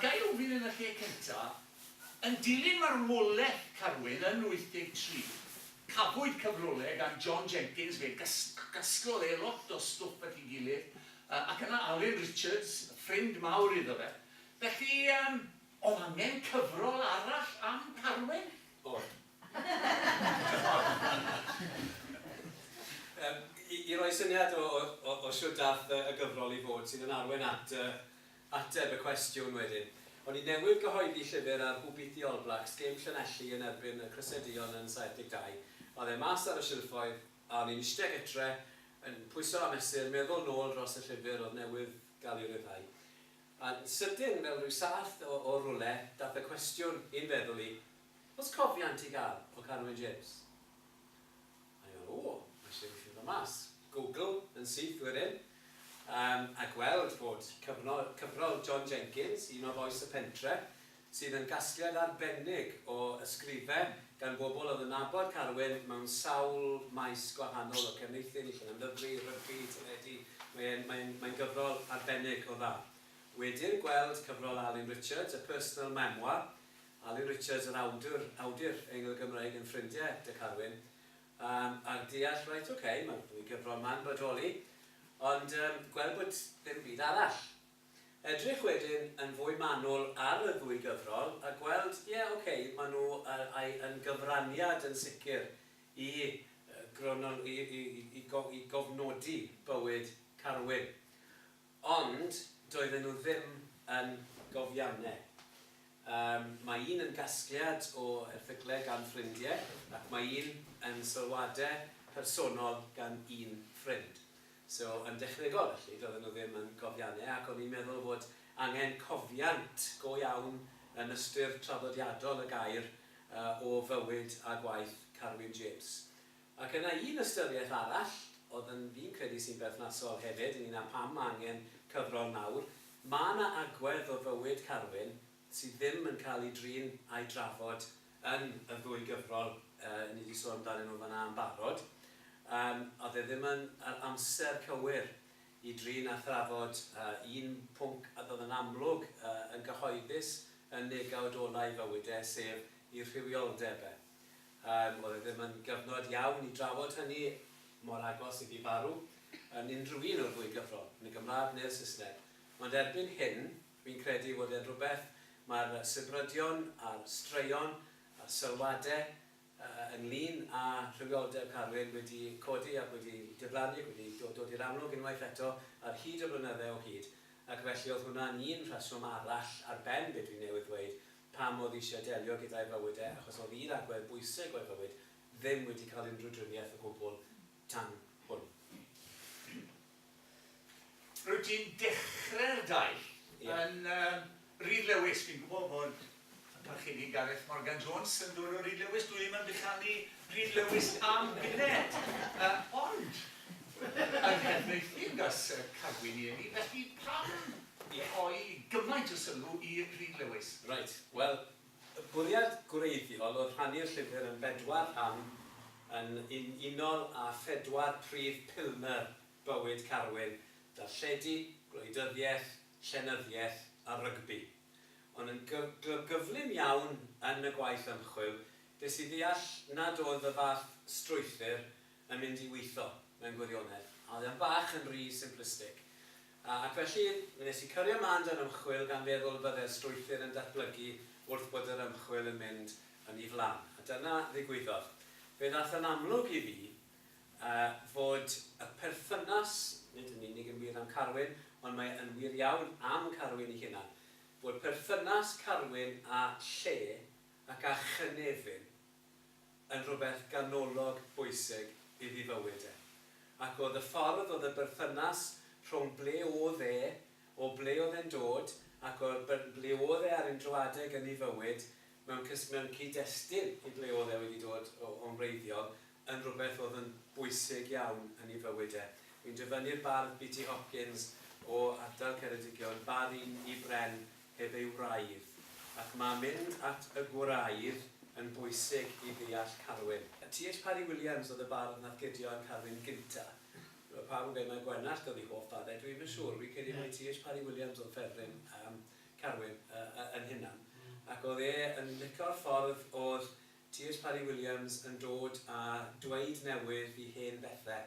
Ga i ofyn yn y lle cynta', yn dilyn marwolaeth Carwyn yn 83, cafwyd cyfrolau gan John Jenkins, fe gasglodd e lot o stwff at ei gilydd, ac yna Alun Richards, ffrind mawr iddo fe. Felly, oedd angen cyfrol arall am Carwyn? Oedd. I roi syniad o shwt daeth y gyfrol i fod, sydd yn arwain at Ateb y cwestiwn wedyn. O'n i newydd gyhoeddi llyfr ar Hwbiti All Blacks gêm Llanelli yn erbyn y Crysedion yn 72. Oedd e mas ar y silffoedd a o'n i'n iste gytre yn pwyso a mesur, meddwl nôl dros y llyfr oedd newydd gael ei ryddhau. A sydyn, fel rhyw sath o o rwle, dath y cwestiwn i'n feddwl i, Oes cofiant i gael o Carwyn James? Ai ar ôl i Shane llwyddo mas? Google yn syth i'r ynn a gweld bod cyfrol John Jenkins, un o Fois y Pentre, sydd yn gasgliad arbennig o ysgrifau gan bobl oedd yn nabod Carwyn mewn sawl maes gwahanol, o cefneithu, neill yn ymddyfri, rygbi, teledu, mae'n gyfrol arbennig o dda. Wedi'r gweld cyfrol Alun Richards, A Personal Memoir, Alun Richards yn awdwr, awdur Eingl Gymreig yn ffrindiau 'da Carwyn yym a deall reit ok ma'r ddwy gyfrol 'ma'n bodoli ond yym gweld bod dim byd arall. Edrych wedyn yn fwy manwl ar y ddwy gyfrol a gweld ie ok ma' nhw ai yn gyfraniad yn sicr i yy grono- i i i i go- i gofnodi bywyd Carwyn Ond doedden nhw ddim yn gofianne. Yym, mae un yn gasgliad o erthygle gan ffrindie, ac mae un yn sylwade personol gan un ffrind. So, yn dechnegol felly, doedden nhw ddim yn gofianne, ac o'n i'n meddwl fod angen cofiant go iawn yn ystyr traddodiadol y gair o fywyd a gwaith Carwyn James. Ac yna un ystyriaeth arall, oedd yn fi'n credu sy'n berthnasol hefyd ynglŷn â pam mae angen cyfrol nawr, mae 'na agwedd o fywyd Carwyn sydd ddim yn cael ei drin a'i drafod yn y ddwy gyfrol yy ni 'di sôn amdanyn nhw fan'na yn barod. Yym, oedd e ddim yn yr amser cywir i drin a thrafod yy un pwnc a oedd yn amlwg yy yn gyhoeddus yn negawd ola'i fywyd e, sef ei rhywioldeb e. Yym, oedd e ddim yn gyfnod iawn i drafod hynny mor agos ag i farw yn unrhyw un o'r ddwy gyfrol, yn y Gymraeg neu'r Saesneg. Ond erbyn hyn, fi'n credu fod e'n rhywbeth mae'r sibrydion a'r straeon a'r sylwadau yy ynglŷn â rhywioldeb Carwyn wedi codi ac wedi diflannu ac wedi do- dod i'r amlwg unwaith eto ar hyd y blynydde o hyd ac felly oedd hwnna'n un rheswm arall ar ben be dwi newydd ddweud pam oedd eisiau delio gyda'i fywyd e achos oedd un agwedd bwysig o'i fywyd ddim wedi cael unrhyw driniaeth o gwbl tan hwn. Rwyt ti'n dechrau'r daith yn Rhyd Lewis, fi'n gwybod fod y Parchedig Gareth Morgan Jones yn dod o Rhyd Lewis, dwi ddim yn bychanu Rhyd Lewis am gynned, ond yn Nhreneithdy yn Gas Cagwyn i eni, felly pam i rhoi gymaint o sylw i Rhyd Lewis. Reit, wel, y bwriad gwreiddiol oedd rhannu'r llyfr yn bedwar rhan yn un unol â phedwar prif pilner bywyd Carwyn, darlledu, gwleidyddiaeth, llenyddiaeth a rygbi. Ond yn gyflym iawn yn y gwaith ymchwil, des i ddeall nad oedd y fath strwythur yn mynd i weithio, mewn gwirionedd. Oedd e'n bach yn rhy simplistic. Ac felly, mi nes i cyrio mân da'r ymchwil gan feddwl y bydde'r strwythur yn datblygu wrth bod yr ymchwil yn mynd yn ei flan. A dyna ddigwyddodd. Fe ddaeth yn amlwg i fi fod y perthynas, nid yn unig yn wir am Carwyn, ond mae yn wir iawn am Carwyn ei hunan, fod perthynas Carwyn â lle ac â chynefin yn rhywbeth ganolog bwysig iddi fywyd e, ac oedd y ffordd oedd y berthynas rhwng ble oedd e, o ble oedd e'n dod, ac o'r byrn ble oedd e ar unrhyw adeg yn ei fywyd, mewn cys-, mewn cyd-destun i ble oedd e wedi dod o, o'n wreiddiol, yn rhywbeth oedd yn bwysig iawn yn ei fywyd e. Wi'n dyfynnu'r bardd BT Hopkins o ardal Ceredigion, 'Bar un i bren, heb ei wraidd, ac mae mynd at y gwraidd yn bwysig i ddeall Carwyn. TH Parry Williams oedd y bardd nath cydio am Carwyn gynta. Mae pawb yn gweud mai Gwenallt oedd ei hoff barddeg, dwi ddim yn siŵr, fi'n credu mai TH Parry Williams oedd ffefryn Carwyn yn hunan, ac oedd e yn lico'r ffordd oedd Tyrd Parry Williams yn dod a dweyd newydd i hen bethe,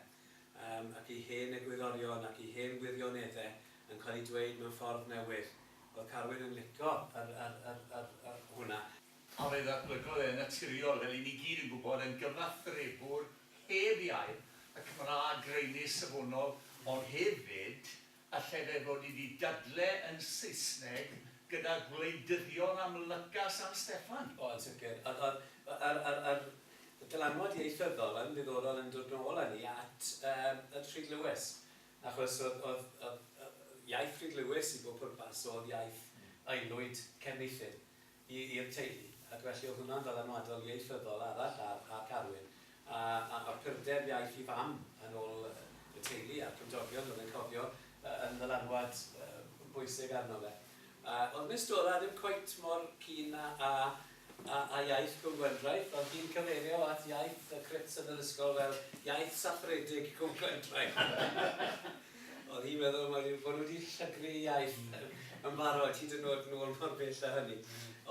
yym, ac i hen egwyddorion ac i hen wirionedde yn cael eu dweyd mewn ffordd newydd. Oedd Carwyn yn lico yr, yr, yr, yr, yr, hwnna. A fe ddatblygodd e, yn naturiol, fel i ni gyd yn gwybod, yn gyfathrebwr heb iau, y Cymraeg graenus, safonol, ond hefyd Allai fe fod i di dadle yn Saesneg gyda gwleidyddion am Lyca San Steffan? O, yn sicr. Ond, ond, yr, yr, yr dylanwad ieithyddol yn ddiddorol yn dod nôl â ni at um, at Rhyd Lewis. Achos oedd, oedd, oedd, oedd iaith Rhyd Lewis i bob pwrpas oedd iaith aelwyd Cefneithin. i i'r teulu, ac felly oedd hwnna'n ddylanwadol ieithyddol arall ar ar Carwyn, a a a'r cryfder iaeth i fam yn ôl y teulu a'r cymdogion oedd yn cofio yy yn ddylanwad yy bwysig arno fe. Yy oedd Miss Dora ddim cweit mor keen a a a a iaith Cwm Gwendraeth, oedd hi'n cyfeirio at iaith y crits yn yr ysgol fel iaith saffredig Cwm Gwendraeth. Oedd hi'n meddwl mai rhyw bod nhw wedi llygru ei iaith yn barod, hyd yn oed nôl mor bell a hynny.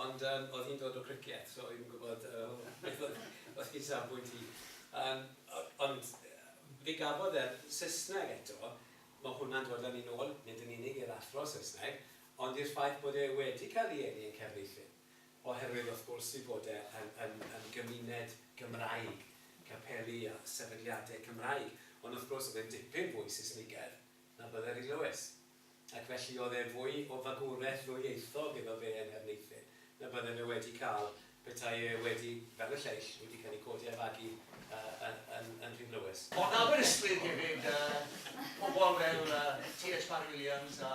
Ond yym oedd hi'n dod o Cricieth, so oedd hi'n gwybod beth oedd ei safbwynt hi. Yym ond fe gafodd e'r Saesneg eto, mae hwnna'n dod â ni nôl, nid yn unig i'r athro Saesneg, ond i'r ffaith bod e wedi cael ei eni yn Caerfeillion. oherwydd wrth gwrs ei bod e yn yn yn gymuned Gymraeg, capeli a sefydliadau Cymraeg, ond wrth gwrs oedd e'n dipyn fwy Saesnigaidd na bydde Rhys Lewis, ac felly oedd e fwy o fagwraeth ddwyieithog iddo fe yn Nherneuthyn na bydde fe wedi cael petai e wedi, fel y lleill, wedi cael ei godi a'i fagu yy yn yn Rhiwlewis. Ond Aberystwyth hefyd, yy pobl fel yy T.S. Parry Williams a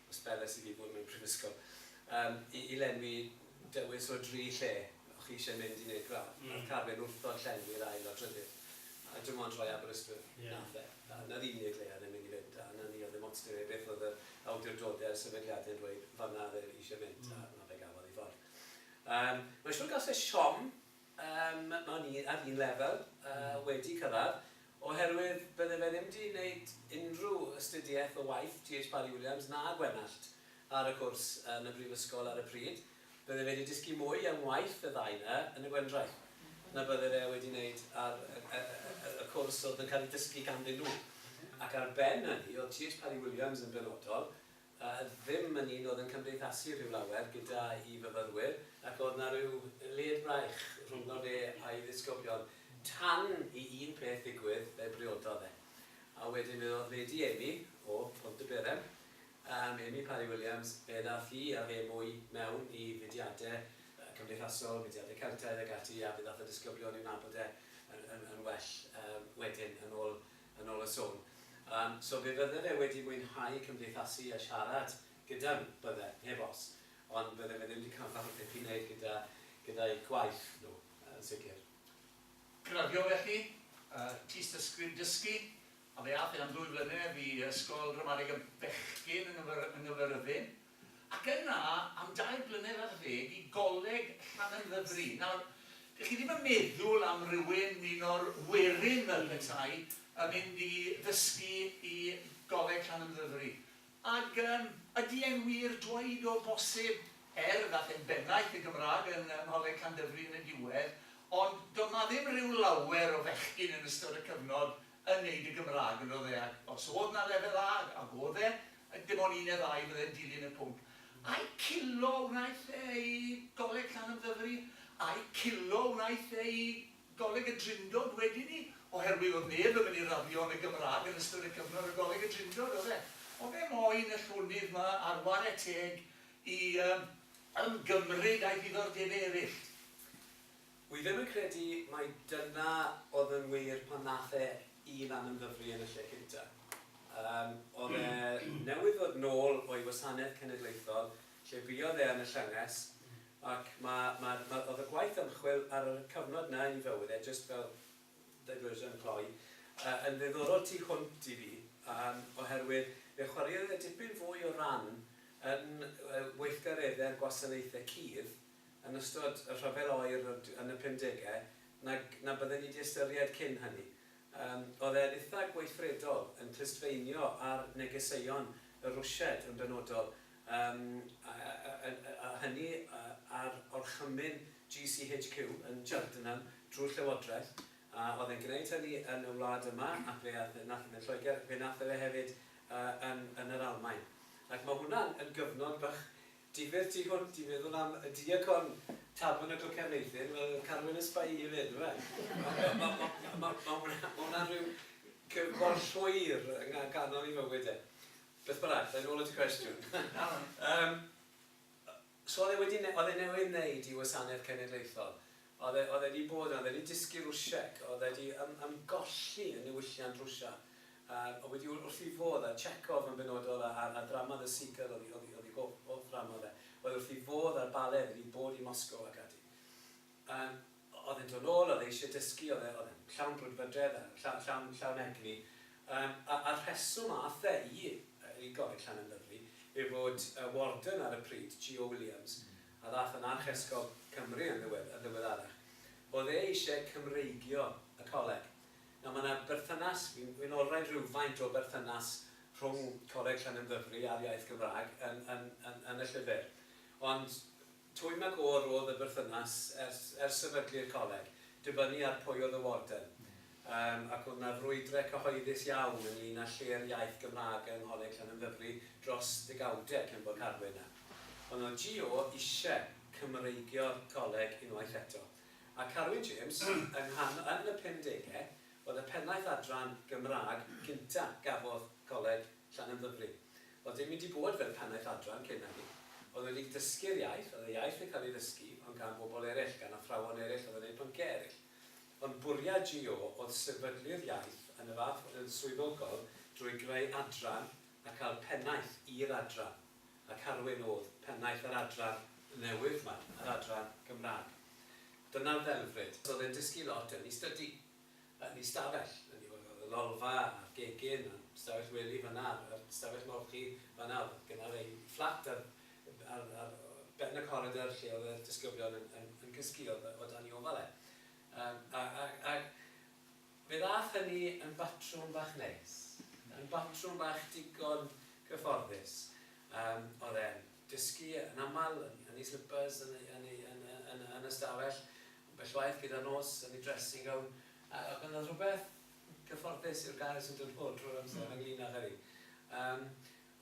Os beles i fi bod mewn prifysgol yym i i lenwi dewis o dri lle o' chi isie mynd i neud gradd nath Carwyn wrthod llenwi yr ail o'r drydydd a dim ond rhoi Aberystwyth nath e a 'na'r unig le o'dd e'n myn' i fynd a 'na ni o'dd ddim ots 'dy fe beth o'dd yr awdurdode'r sefydliade'n dweud fanna o'dd e isie mynd a 'na fe gafodd 'i ffordd. Yym mae'n siŵr gas e siom Yym, o'n ni ar un lefel, yy, wedi cyrraedd, oherwydd bydde fe ddim 'di wneud unrhyw astudiaeth o waith GH Parry Williams na Gwenallt ar y cwrs yn y brifysgol ar y pryd. Bydde fe 'di dysgu mwy am waith y ddau 'na yn y Gwendraeth na bydde fe wedi wneud ar y, y, y, y cwrs oedd yn cael ei dysgu ganddyn nhw. Ac ar ben hynny, oedd GH Parry Williams yn benodol, a ddim yn un oedd yn cymdeithasu rhyw lawer gyda'i fyfyrwyr, ac oedd 'na ryw led braich rhwngddo fe a'i ddisgyblion, tan i un peth ddigwydd, fe briododd e. A wedyn fe oedd Lady Amy, o Pontyberem, yym, Amy Parry Williams, fe ddaeth hi a fe mwy mewn i fudiade cymdeithasol, mudiade Celtaidd ag ati, a fe ddaeth y disgyblion i'w nabod e yn, yn, yn well, yym, wedyn, yn ôl yn ol y swn. Yym, so fe fydde fe wedi mwynhau cymdeithasu a siarad gyda nhw, bydde, heb os. Ond bydde fe ddim wedi cael fath o beth i wneud gyda, gyda'u gwaith nhw, yn sicr. Graddio felly, yy, tystysgrif dysgu, a fe ath e am ddwy flynedd i ysgol ramadeg y bechgyn yng Nghyfyrddin. Ac yna, am dair blynedd ar ddeg, i Goleg Llanymddyfri. Nawr, dych chi ddim yn meddwl am rywun, un o'r werin fel petai, yn mynd i ddysgu i Goleg Llanymddyfri. Ac yym, ydy e'n wir dweud o bosib, er, ddaeth e'n bennaeth y Gymraeg yn Ngholeg Llandyfri yn y diwedd, ond doedd 'na ddim rhyw lawer o fechgyn yn ystod y cyfnod yn neud y Gymrag yn ddodd e ac os odd na lefel A ag odd e ac dim on un ne ddau fydde'n dilyn y pwnc ai culo wnaeth e i goleg Llanymddyfri ai culo wnaeth e i goleg y Drindod wedyn ni oherwydd odd neb yn myn i raddio yn y Gymrag yn ystod y cyfnod o goleg y Drindod odd e odd e moyn y llonydd ma ar ware teg i yym ymgymryd â'i ddiddordebe eryll. Wi ddim yn credu mai dyna oedd yn wir pan nath e i lan yn Ddyfri yn y lle cynta. Yym, oedd e newydd ddod nôl o'i wasanaeth cenedlaethol, lle buodd e yn y llynges, ac ma, ma, ma, oedd y gwaith ymchwil ar y cyfnod na yn ei fywyd e, jyst fel diversion cloi, yy, yn ddiddorol tu hwnt i fi, yym, oherwydd fe chwaraeodd e dipyn fwy o ran yn yy weithgaredde'r gwasanaethe cudd, yn ystod y rhyfel oer yn y pumdegau nag na bydden ni 'di ystyried cyn hynny. Yym, oedd e'n itha' gweithredol yn clustfeinio ar negeseuon y Rwsiaid yn benodol, yym, a hynny ar orchymyn GCHQ yn Cheltenham drwy'r Llywodraeth, a oedd e'n gwneud hynny yn y wlad yma, ac fe ath e, nath e fynd Lloegr, ac fe nath e fe hefyd yn yr Almaen. Ac ma' hwnna'n yn gyfnod bach Difyr tu hwnt i feddwl am y diacon Tabernacl Cefneithin, fel oedd Carwyn yn sbai hi 'fyd, yndyfe? Mae hwnna'n rhyw gyfbor llwyr yn ganol ei fywyd e. Beth bynnag, yn ôl at y cwestiwn. So oedd e wedi... oedd e newydd wneud i Wasanaeth Cenedlaethol. Oedd e, oedd e 'di bod 'na, oedd e 'di dysgu Rwsieg, oedd e 'di ym, ymgolli yn niwylliant Rwsia, a oedd wedi wr, wrth 'i fodd â Chekhov yn benodol, a, a, a ddrama The Seagull oedd 'i, oedd 'i, oedd 'i hoff, hoff ddrama fe, oedd wrth 'i fodd â'r bale, oedd e 'di bod i Moscow ac ati. Yym, oedd e'n dod nôl, oedd e eisiau dysgu, oedd e, oedd e'n llawn brwdfrydedd a lla, llawn, llawn egni, yym, a, a'r rheswm a'th e i, yy, i Gorrycllan yn lyfli, yw fod yy warden ar y pryd, G. O. Williams, a ddaeth yn Archesgob Cymru yn ddiweddarach, oedd e eisiau Cymreigio y coleg. Nawr, mae 'na berthynas, fi'n olrhain rhywfaint o berthynas rhwng Coleg Llanymddyfri a'r iaith Gymraeg yn y llyfr. Ond twym a gôr oedd y berthynas ers sefydlu'r coleg, dibynnu ar pwy oedd y warden. Yym, ac oedd 'na frwydre cyhoeddus iawn ynglŷn â lle'r iaith Gymraeg yng Ngholeg Llanymddyfri dros ddegawdau cyn bod Carwyn 'na. Ond oedd GO isie Cymreigio'r coleg unwaith eto. A Carwyn James, yng nghan- yn y pumdegau, oedd y pennaeth adran Gymraeg gynta' gafodd Coleg Llanymddyfri. Oedd dim wedi bod fel pennaeth adran cyn hynny. Oedd wedi dysgu'r iaith, oedd y iaith yn cael ei ddysgu, ond gan bobl eraill, gan athrawon eraill oedd yn neud pynciau eraill. Ond bwriad GO oedd sefydlu'r iaith yn y fath fod yn swyddogol drwy greu adran a cael pennaeth i'r adran, a Carwyn oedd pennaeth yr adran newydd 'ma, yr adran Gymraeg. Dyna'r ddelfryd. So oedd e'n dysgu lot yn ei stydi, yn ei stafell, yn ei... oedd y lolfa a'r gegin a'r stafell wely fan'na a'r stafell molchi fan'na, oedd genna fe'i fflat ar ar ben y coridor lle oedd y disgyblion yn cysgu o dan ei ofal e. Ac fe ddaeth hynny yn batrwm bach neis, yn batrwm bach digon cyfforddus. Oedd e'n dysgu yn aml yn ei slipyrs yn y stafell, ambell waith gyda'r nos yn ei dressing gown, ac oedd 'na rhywbeth cyfforddus yw'r gair sy'n dod ffwrdd drwy'r amser ynglŷn â hynny.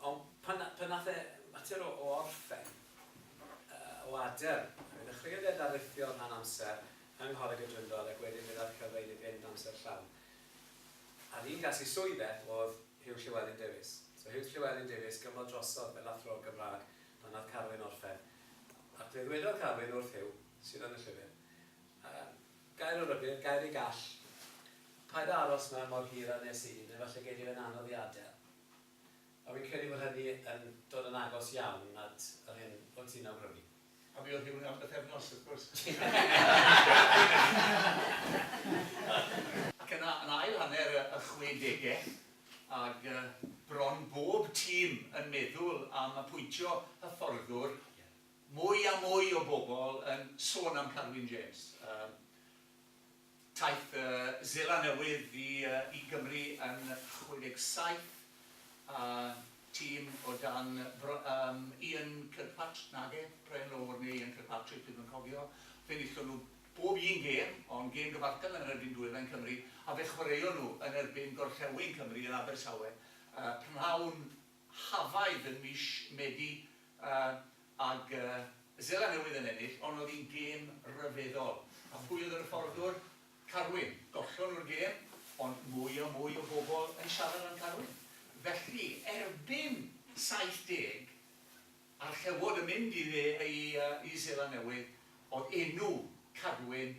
Ond pan nath e fater o orffen o adel, fe ddechreuodd e ddarlithio rhan amser yng Ngholeg y Drindod ac wedyn fe ddath cyfle iddi fynd amser llawn. A'r un gas i swydd e o'dd Huw Llewelyn Davies. So Huw Llewelyn Davies gyfnod drosodd fel Athro Gymraeg pan nath Carwyn orffen. Ac fe ddwedodd Carwyn wrth Huw, sydd yn y llyfr, gair o rybudd, gair i gall, paid â aros 'ma mor hir â nes i, efallai gei di fe'n anodd i adel. A fi'n credu bod hynny yn dod yn agos iawn at yr hyn o' ti'n awgrymu. A mi oedd hi wedi bythefnos, wrth gwrs. Ac yna, yn ail hanner y chwedegau, ag bron bob tîm yn meddwl am apwyntio hyfforddwr, mwy a mwy o bobl yn sôn am Carwyn James. Taith Zela Newydd i Gymru yn 67 a tîm o dan Ian Kirkpatrick, nage, Brian Lower neu Ian Kirkpatrick, dwi'm yn cofio, fe enillon nhw bob un gêm, ond gêm gyfartal yn erbyn Dwyrain Cymru, a fe chwaraeon nhw yn erbyn Gorllewin Cymru yn Abertawe, prynhawn Hafaidd yn mis Medi ag Seland Newydd yn ennill ond oedd hi'n gêm ryfeddol. A phwy oedd yr hyfforddwr? Carwyn. Gollon nhw'r gêm ond mwy a mwy o bobl yn siarad am Carwyn. Felly erbyn 70 a'r Llewod yn mynd i Seland Newydd oedd enw Carwyn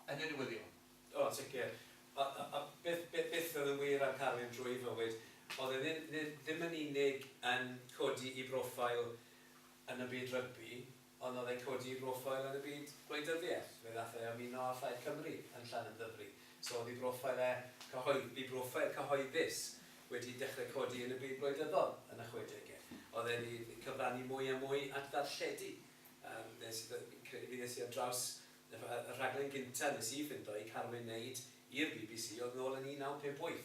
yn y newyddion. O, yn sicr. Ond beth oedd yn wir ar Carwyn drwy ei fywyd, oedd e ddim yn unig yn codi ei broffil yn y byd rygbi, ond oedd e'n codi ei broffil yn y byd gwleidyddiaeth. Fe ddaeth e i ymuno â Phlaid Cymru yn Llanymddyfri. So, oedd ei broffil e, ei broffil cyhoeddus, wedi dechrau codi yn y byd gwleidyddol yn y chwedegau. Oedd e wedi cyfrannu mwy a mwy at ddarlledu. Fi ddes i ar draws Y rhaglen gynta nes i ffindo i Carwyn neud i'r bbc oedd nôl yn 1958,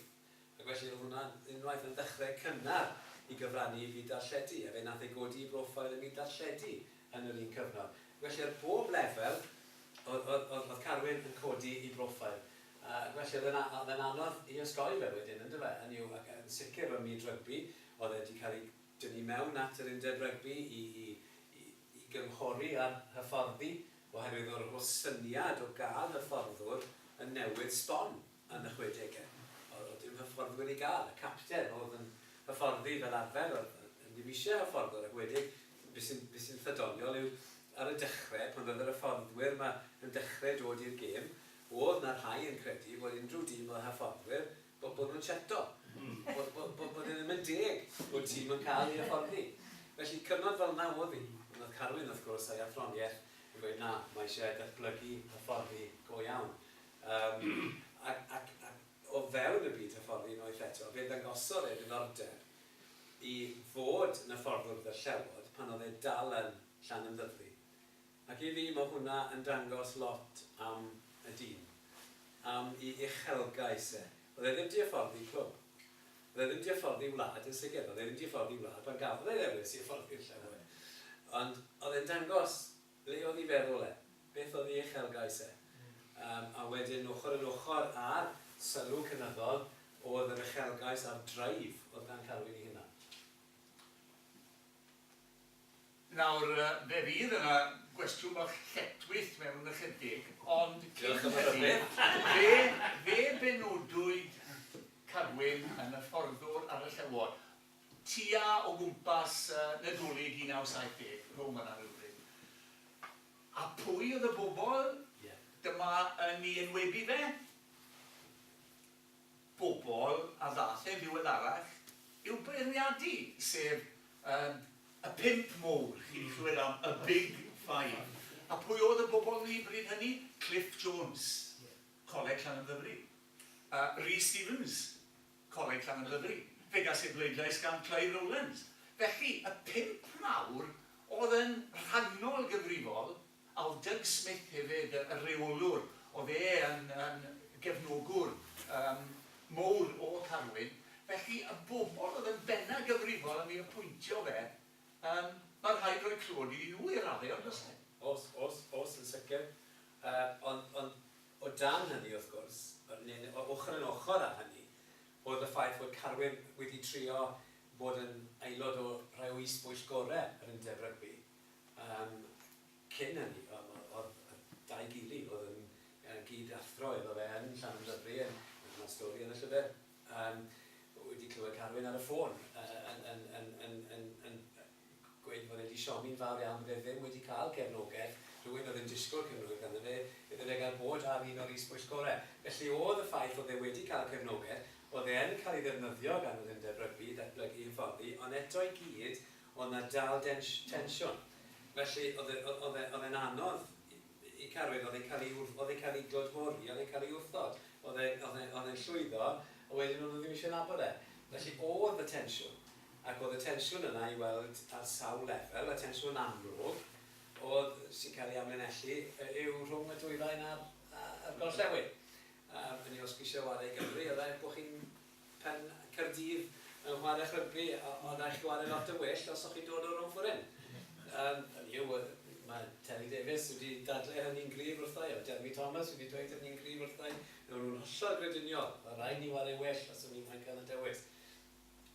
ac felly oedd hwnna unwaith yn ddechrau cynnar i gyfrannu i fyd darlledu, a fe nath e godi i broffail ym myd darlledu yn yr un cyfnod. Felly ar bob lefel oedd Carwyn yn codi i broffail, ac felly oedd e'n anodd i osgoi fe wedyn yn dyfe, hynny yw ac yn sicr ym myd rygbi, oedd e 'di cael ei dynnu mewn at yr undeb rygbi i i gynghori ar hyfforddi oherwydd yr holl syniad o gael hyfforddwr yn newid sbon yn y chwedegau. Oedd dim hyfforddwyr i gael. Y capten oedd yn hyfforddi fel arfer, oedd ddim eisiau hyfforddwr ac wedyn be sy'n be sy'n ddoniol yw ar y dechrau pan oedd yr hyfforddwyr yma yn dechrau dod i'r gêm oedd na rhai yn credu bod unrhyw dîm oedd â hyfforddwyr Bod bod nhw'n cheto. Bod bod bod bod e ddim yn deg bod tîm yn cael ei hyfforddi. Felly cyfnod fel 'na o'dd 'i. Ond o'dd Carwyn wrth gwrs a'i athroniaeth yn gweud na, ma' isie datblygu, hyfforddi go iawn. Yym ac ac ac o fewn y byd hyfforddi unwaith eto, fe ddangosodd e ddiddordeb i fod yn yfforddwr 'da Llewod pan o'dd e dal yn Llanymddyfri. Ac i fi ma hwnna yn dangos lot am y dîm, am i uchelgais e. O'dd e ddim di yfforddi clwb. O'dd e ddim di yfforddi wlad yn sicr, o'dd e ddim di yfforddi wlad pan gafodd e ddewis i yfforddi'r llenwe. Ond o'dd e'n dangos le o'dd i feddwl e, beth o'dd i uchelgais e. Yym a wedyn ochor yn ochor a'r sylw cynyddol o'dd yr uchelgais a'r drive o'dd gan Carwyn i hunan. Nawr, fe fydd yna gwestiwn bach lletchwith mewn ychydig, ond cyn hynny, fe, fe benodwyd Carwyn yn y fforddwr ar y Llewod tua o gwmpas Nadolig 1970, rhwng fan'na rywbryd. A pwy oedd y bobl? Ie. Dyma yn ei enwebu fe. bobl a ddaeth yn ddiweddarach i'w beirniadu, sef yym y Pump Mowr, chi 'di clywed am y Big Five. A pwy oedd y bobl 'ny bryd hynny? Cliff Jones, Coleg Llanymddyfri. Yy Rhys Stevens, Coleg Llanymddyfri. Fe gas ei bleidlais gan Clive Rowlands. Felly, y pump mawr oedd yn rhannol gyfrifol Al Doug Smith hefyd, y rheolwr, oedd e yn yn gefnogwr yym mowr o Carwyn, felly y bobl oedd yn bennaf gyfrifol am ei apwyntio fe, yym, ma' rhaid rhoi clod iddyn nhw i raddau, ond does e? Oes, oes, oes, yn sicr. Yy, ond, ond o dan hynny, wrth gwrs, yy neu neu o ochr yn ochr â hynny, oedd y ffaith fod Carwyn wedi trio bod yn aelod o rhai o is-bwyllgorau yr Undeb Rygbi. Yym, cyn hynny, o'dd y dau gily, o'dd yn gyd-athro iddo fe yn Llanymddyfri, yn y stori yn y llyfr, yym, wedi clywed Carwyn ar y ffôn yn gweud fod e 'di siomi'n fawr iawn bod e ddim wedi cael cefnogaeth, rhywun o'dd yn disgwl cefnogaeth arno fe, iddo fe gael bod ar un o'r is-bwyllgorau. Felly, o'dd y ffaith o'dd e wedi cael cefnogaeth, o'dd e yn cael ei ddefnyddio gan yr Undeb Rygbi i ddatblygu hyfforddi, ond eto i gyd, Oedd 'na dal tensiwn. Felly, oedd e'n anodd i Carwyn. Oedd e'n cael ei glodfori, oedd e'n cael ei wrthod. Oedd e'n llwyddo, ond wedyn o'n nhw ddim eisiau nabod e. Felly, oedd 'na tensiwn. Ac oedd y tensiwn yna i weld ar sawl lefel. Y tensiwn amlwg oedd, sy'n cael ei amlinellu, yw rhwng y Dwyrain a'r Gorllewin. Yn ei hosbisiau o adeg Gymru, oedd e, bod chi'n Pan Caerdydd yn chwarae rhygbi o raid chi ware lot yn well os o'ch chi'n dod o Romfuren. Yym hynny yw mae Terry Davies wedi dadle hynny'n gryf wrtha i a Jeremy Thomas wedi dweud hynny'n gryf wrtha i. Newn nhw'n hollol grediniol ma' raid ni ware well os o'n ni moyn cael y dewis.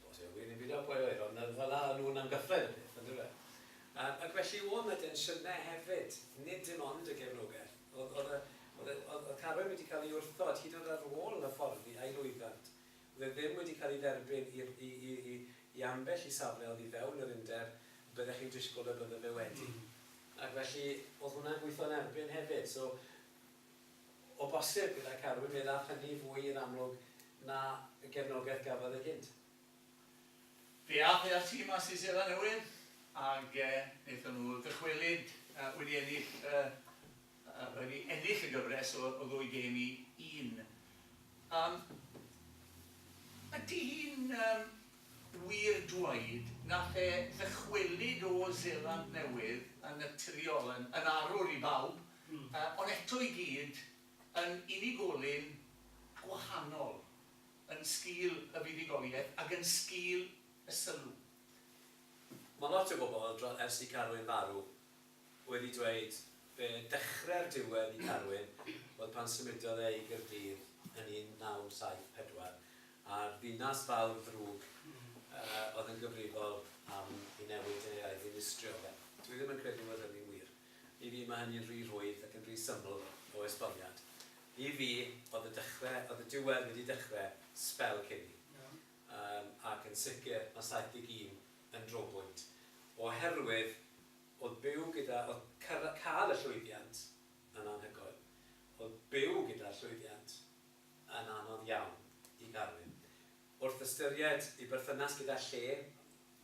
Os yw'r wir yn byd o'r oer ond fel 'na o'n nhw'n amgyffred y peth yndyfe? Yym ac felly o' 'na densiynau hefyd nid dim ond y gefnogaeth. Oedd Carwyn wedi cael ei wrthod hyd yn oed ar ôl hyfforddi a'i lwyfant. Oedd e ddim wedi cael ei dderbyn i ambell i safle oddi fewn yr Undeb y byddech chi'n disgwyl y bydde fe wedi. Ac felly, oedd hwnna'n gweithio'n erbyn hefyd. So, o bosib, gyda Carwyn, fe ddaeth hynny fwy i'r amlwg na y gefnogaeth gafodd e gynt. Fe aeth e â'r tîm mas i Seland Newydd ac wnaethon nhw ddychwelyd wedi ennill wedi ennill y gyfres o ddwy gêm i un. Yym ydy hi'n yym wir dweud nath e ddychwelyd o Seland Newydd yn naturiol yn yn arwr i bawb yy ond eto i gyd yn unigolyn gwahanol? yn sgil y buddugoliaeth ac yn sgil y sylw. Mae lot o bobl, dro- ers i Carwyn farw, wedi dweud be dechre'r diwedd i Carwyn oedd pan symudodd e i Gaerdydd yn 1974, a'r ddinas fawr ddrwg yy oedd yn gyfrifol am ei newid e a'i ddinistrio fe. Dwi ddim yn credu fod hynny'n wir. I fi, mae hynny'n rhy rhwydd ac yn rhy syml o esboniad. I fi, oedd y dechre, oedd y diwedd wedi dechre sbel cyn i. Yym, ac yn sicr, mae 71 yn drobwynt. Oherwydd, oedd byw gyda, oedd cyrra-, cael y llwyddiant yn anhygoel. Oedd byw gyda'r llwyddiant yn anodd iawn i Garwyn. Wrth ystyried ei berthynas gyda lle,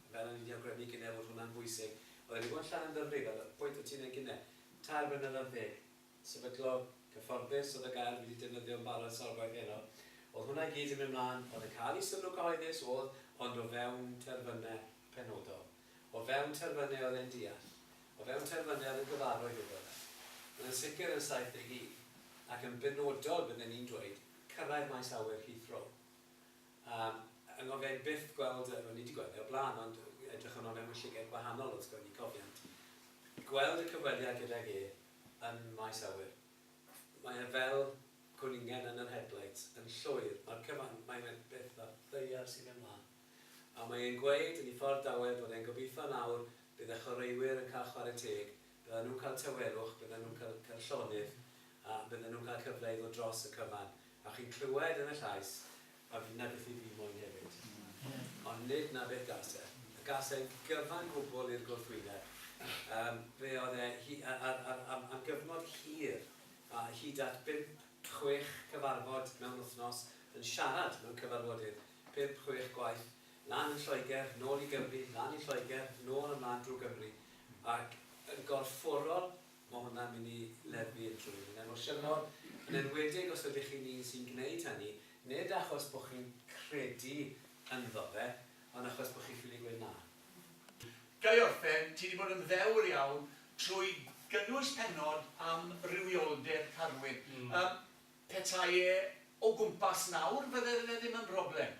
fel o'n i 'di awgrymu gynne fod hwnna'n bwysig, oedd e 'di bod yn Llanymddyfri, fel y pwynt o' ti'n neud gynne, tair blynedd ar ddeg. sefydlo cyfforddus oedd y gair dwi 'di defnyddio yn barod sawl gwaith heno, oedd hwnna i gyd yn mynd mlaen, oedd yn cael ei sylw cyhoeddus, oedd, ond o fewn terfynau penodol. O fewn terfynau oedd e'n deall. O fewn terfynau oedd yn gyfarwydd iddo fe. Ond yn sicr yn 71, ac yn benodol bydden i'n dweud, cyrraedd maes awyr Heathrow. A yng ngofiai i byth gweld, wel ni 'di gweld e o'r blaen, ond edrychwn o fewn y llygaid gwahanol wrth gwrs, ni cofiant, gweld y cyfweliad gydag e yn maes awyr. Mae e fel cwningen yn yr headlights, yn llwyr, mae'r cyfan, mae e'n beth ar ddaear sy'n mynd mlan. A mae e'n gweud yn ei ffordd dawel bod e'n gobeithio nawr bydd y chwaraewyr yn cael chwarae teg, byddan nhw'n cael tawelwch, byddan nhw'n cael cael llonydd a byddan nhw'n cael cyfle i ddod dros y cyfan. A chi'n clywed yn y llais, a fi'n nabithu fi moyn hefyd. Ond nid 'na beth gas e. A gas e'n gyfan gwbl i'r gwrthwyneb. Yym, fe oedd e, hi- a- a- a- a- am am gyfnod hir, a hyd at bump, chwech cyfarfod mewn wythnos, yn siarad mewn cyfarfodydd, pump, chwech gwaith, lan yn Lloegr, nôl i Gymru, lan i Lloegr, nôl a mlan drwy Gymru, ac yn gorfforol, Mae hwnna'n mynd i leddfu unrhyw un yn emosiynol, yn enwedig os ydych chi'n un sy'n gwneud hynny, nid achos bod chi'n credu ynddo fe, ond achos bod chi'n ffili gweud na. Ga i orffen? Ti 'di bod yn ddewr iawn trwy gynnwys pennod am rywioldeb Carwyn. Petai e o gwmpas nawr fydde fe ddim yn broblem.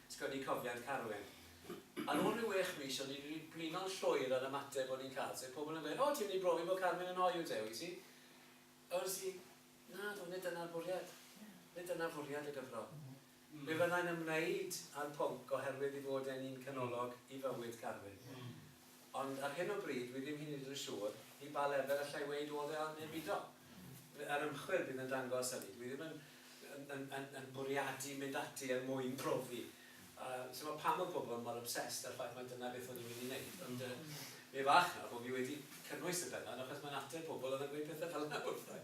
Sgwennu cofiant Carwyn. Ar ôl rhyw wech mis o'n i wedi blino'n llwyr â'r ymateb o'n i'n cael, sef pobl yn gweud 'O, ti wedi brofi bod Carwyn yn hoyw te, wyt ti? A wedes i, 'Nadw, nid dyna'r bwriad. Nid dyna fwriad y gyfro. Fe fyddai'n ymwneud â'r pwnc oherwydd ei fod e'n un canolog i fywyd Carwyn. Ond ar hyn o bryd, wi ddim hyd yn hyd yn siŵr i ba lefel alla i weud oedd e oedd neu bido. Yr ymchwil bydd yn dangos hynny. Dwi ddim yn, yn, yn, yn, yn bwriadu mynd ati er mwyn profi. Uh, so mae pam mae pobl mor obsessed â'r ffaith mae dyna beth o'n i'n mynd i wneud. Ond uh, mi fach na bod fi wedi cynnwys y penod achos mae'n ateb pobl oedd yn gweud pethau fel yna wrthau.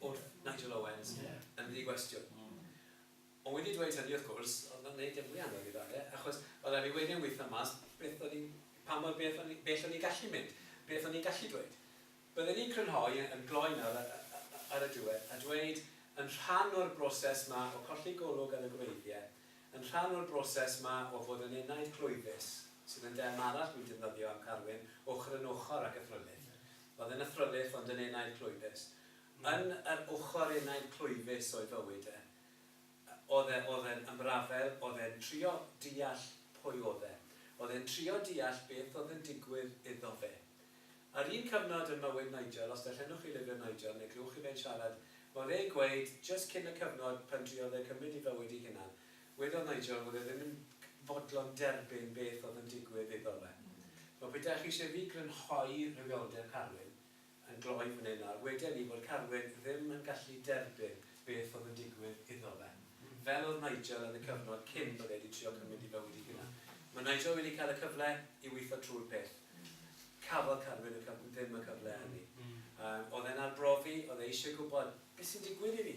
bod Nigel Owens yn ddi-gwestiwn. Ond wedi dweud hynny, wrth gwrs, oedd o'n wneud dim mwy anodd iddo fe, achos oedd rhaid fi wedyn weithio mas beth o'n i'n, pa mor bell o'n i'n, bell o'n i'n gallu mynd, beth o'n i'n gallu dweud. Bydden i'n crynhoi, yn gloi nawr a- a- a- ar y diwedd, a dweud, yn rhan o'r broses 'ma o colli golwg ar y gwreiddiau, yn rhan o'r broses 'ma o fod yn enaid clwyfus, sydd yn derm arall dwi'n defnyddio am Carwyn, ochr yn ochr ag y thrylith, Oedd yn athrylith ond yn enaid clwyfus. Yn yr ochr enaid clwyfus o'i fywyd e. Oedd e, oedd e'n ymrafael, oedd e'n trio deall pwy oedd e. Oedd e'n trio deall beth oedd yn digwydd iddo fe. Ar un cyfnod yn mywyd Nigel, os darllenwch chi lyfr Nigel neu glywch chi fe'n siarad, ma' fe'n gweud, jyst cyn y cyfnod pan driodd e cymryd ei fywyd ei hunan, Wedodd Nigel fod e ddim yn fodlon derbyn beth oedd yn digwydd iddo fe. Wel, pe dach chi eisiau fi grynhoi rhywioldeb Carwyn yn gloi fan hyn nawr, weden ni fod Carwyn ddim yn gallu derbyn beth oedd yn digwydd iddo fe. Fel oedd Nigel yn y cyfnod cyn bod e 'di trio cymryd ei fywyd ei hunan. Mae Nigel wedi cael y cyfle i weithio trwy'r peth. Cafodd Carwyn y cyf- ddim y cyfle hynny. Yym, oedd e'n arbrofi, oedd e eisiau gwybod, 'Beth sy'n digwydd i fi?